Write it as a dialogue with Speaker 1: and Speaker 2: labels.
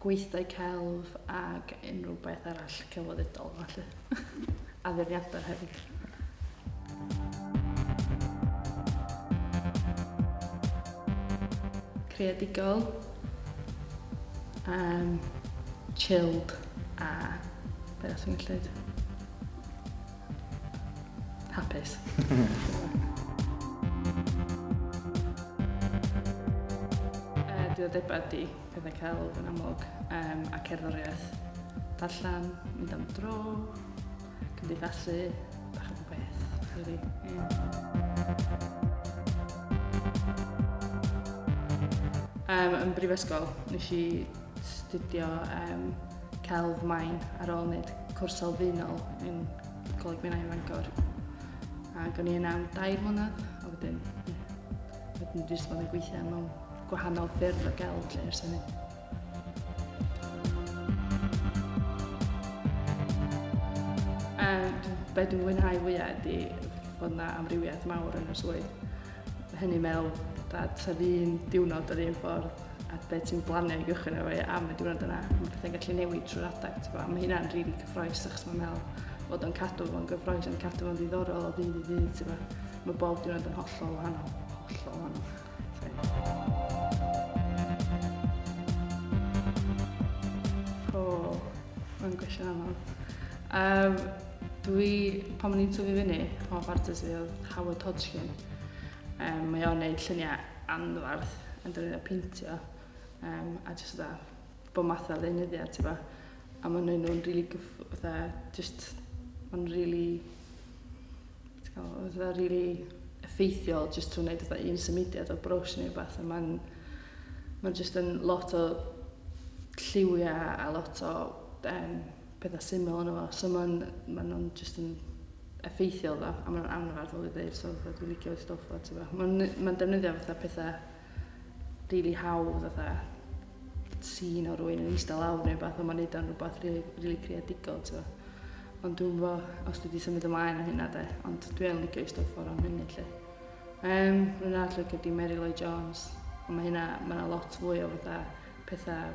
Speaker 1: gweithdai celf ac unrhyw beth arall celfyddydol felly. Addurniadau hefyd. Creadigol, um, chilled a beth sy'n gallu Hapus. uh, diddordebau di pethau celf yn amlwg, um, a cerddoriaeth, darllen, mynd am dro, cymdeithasu, bach o beth, really. Yeah. Um, yn brifysgol, nes i studio um, celf main ar ôl wneud cwrs sylfaenol yn Coleg Minnau yn Fangor. Ac o'n i yna am dair mlynedd, a wedyn Dwi wedi bod yn gweithio mewn gwahanol ffyrdd o gael lle ers hynny. be dwi'n mwynhau fwyaf ydy bod yna amrywiaeth mawr yn y swydd. Hynny mewn dad sa ddyn diwrnod yr un ffordd a be ti'n blanio i gychwyn efo i am y diwrnod yna. Mae pethau'n gallu newid trwy'r adeg. A mae hynna'n rili really cyffroes achos mae'n meddwl bod o'n cadw fo'n gyffroes, yn cadw fo'n ddiddorol o ddydd i ddydd. Mae bob diwrnod yn hollol wahanol. Hollol wahanol. O, mae'n gwestiwn anodd. Um, dwi, pan o'n i'n tyfu fyny, pan o'n fartes fi oedd Howard Hodgkin. Um, mae o'n neud lluniau anfarth yn dod i'n peintio. Um, a jyst da, bob math o ddeunyddiau, ti'n bo. A maen nhw'n nhw'n rili gyff... Fatha, just... Maen rili... Ti'n cael, fatha rili effeithiol just trwy wneud fatha un symudiad o brwsh neu beth. A maen... Maen just yn lot o lliwiau a lot o um, pethau syml yn efo. So maen, maen nhw'n just yn effeithiol dda. A maen nhw'n anfardd o ddweud. So fatha, dwi'n licio stwff o, ti'n bo. Maen, maen defnyddio fatha pethau rili hawdd fatha sîn o rwy'n yn eistedd lawr neu beth, ond mae'n neud o'n rhywbeth rili, rili creadigol, ti'n Ond dwi'n fo, os dwi wedi symud ymlaen o hynna de, ond dwi yn licio eistedd ffordd o'n hynny, lle. Um, rwy'n arall licio di Mary Lloyd Jones, ond mae hynna, mae yna lot fwy o fatha pethau